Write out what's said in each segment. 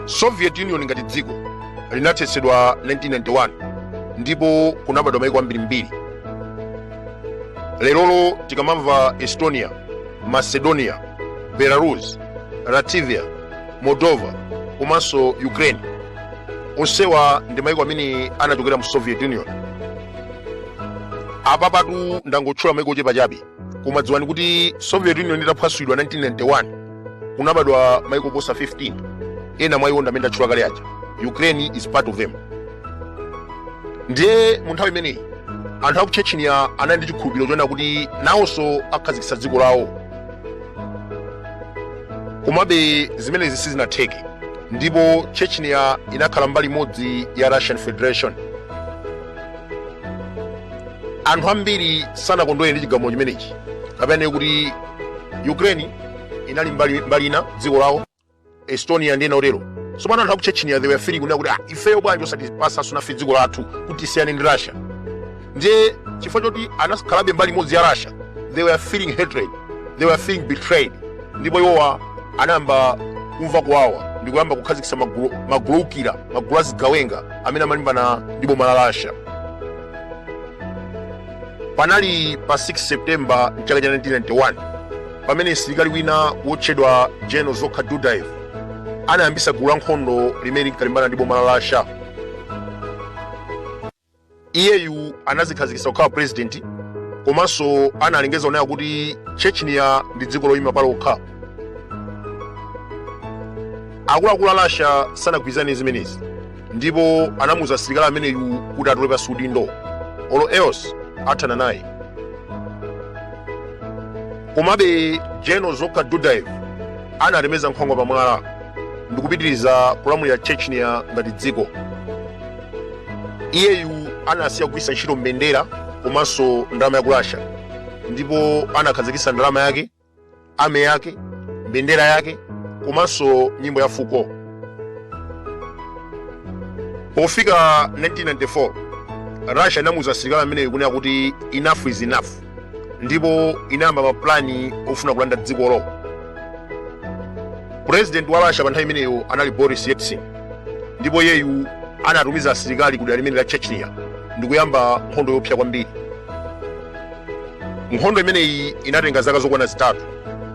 soviet union ngati dziko linathetsedwa 1991 ndipo kunabadwa maiko ambirimbiri lerolo tikamamva estonia macedonia belarus latvia moldova komanso ukraine onsewa ndi maiko amene anachokera mu soviet union apa patu ndangotchula maiko ochepa chabe koma dziwani kuti soviet union itaphwasulidwa 1991 kunabadwa maiko oposa 15 ena mwa iwo ndamene ndatchula kale aja ukraine is part of them ndiye mu nthawi imeneyi anthu aku chechnya anali ndi chikhulupiriro choona kuti nawonso akhazikitsa dziko lawo komabe zimenezi sizinatheke ndipo chechnya inakhala mbali imodzi ya russian federation anthu ambiri sanakondwere ndi chigamulo chimenechi kapena kuti ukraine inali mbali, mbali ina dziko lawo estonia ndi ena otero tsopano anthu aku chechnya they were feeling kunena kuti ah, ifeyo bwanji osatipasa sonafe dziko lathu kuti tisiyane ndi russia ndiye chifukwa choti anakhalabe mbali imodzi ya russia they were feeling hatred they were feeling betrayed ndipo iwowa anayamba kumva kuwawa ndi kuyamba kukhazikitsa magulu oukira magulu azigawenga amene amalimbana ndi boma la russia panali pa 6 septemba mchaka cha 1991 pamene msilikali wina wotchedwa general dzhokhar dudayev anayambitsa gulu la nkhondo limene linkalimbana ndi boma la russia iyeyu anazikhazikitsa kukhala purezidenti komanso analengeza kunena kuti chechnya ndi dziko loyima palokha akuluakulu a russia sanagwirizane zimenezi ndipo anamuuza msilikali ameneyu kuti atule pansi udindo or else athana naye komabe general dzhokhar dudayev anatemetsa nkhwangwa pamwala ndikupitiriza kulamulira chechnya ngati dziko iyeyu anasiya kugwiritsa ntchito mbendera komanso ndalama ya ku russia ndipo anakhazikitsa ndalama yake army yake mbendera yake komanso nyimbo ya fuko pofika 1994 russia inamuuza msilikali ameneyo kunena kuti enough is enough ndipo inayamba mapulani ofuna kulanda dzikolo purezidenti wa russia pa nthawi imeneyo anali boris yeltsin ndipo iyeyu anatumiza asilikali ku dera limeneli la chechnya ndikuyamba nkhondo yoopsa kwambiri nkhondo imeneyi inatenga zaka zokwana zitatu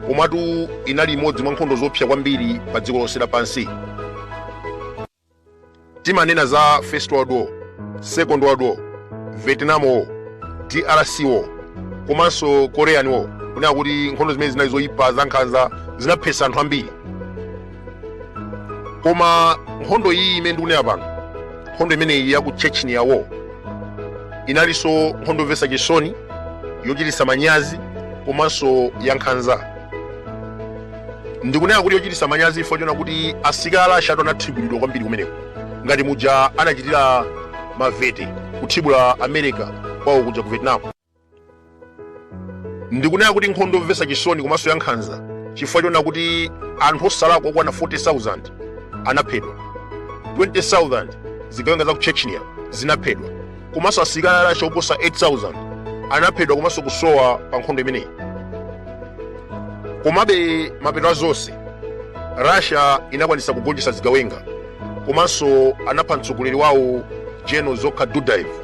komatu inali imodzi mwa nkhondo zoopsa kwambiri pa dziko lonse lapansi timanena za first world war second world war vietnam war drc war komanso korean war kunena kuti nkhondo zimene zinali zoyipa zankhanza zinaphetsa anthu ambiri koma nkhondo iyi imene ndikunena pano nkhondo imeneyi ya ku chechnya war inalinso nkhondo yomvetsa chisoni yochititsa manyazi komanso yankhanza ndikunena kuti yochititsa manyazi chifukwa choona kuti asilikali a russia tu anathibulidwa kwambiri kumeneko ngati muja anachitira mavete kuthibula america kwawo kuja ku vietnam ndikunena kuti nkhondo yomvetsa chisoni komanso yankhanza chifukwa choona kuti anthu osalakwa okwana 40,000 anaphedwa 20,000 zigawenga za ku chechnya zinaphedwa komanso asilikali a russia oposa 8,000 anaphedwa komanso kusowa pa nkhondo imeneyi komabe mapeto a zonse russia inakwanisa kugonjetsa zigawenga komanso anapha mtsogoleri wawo general dzhokhar dudayev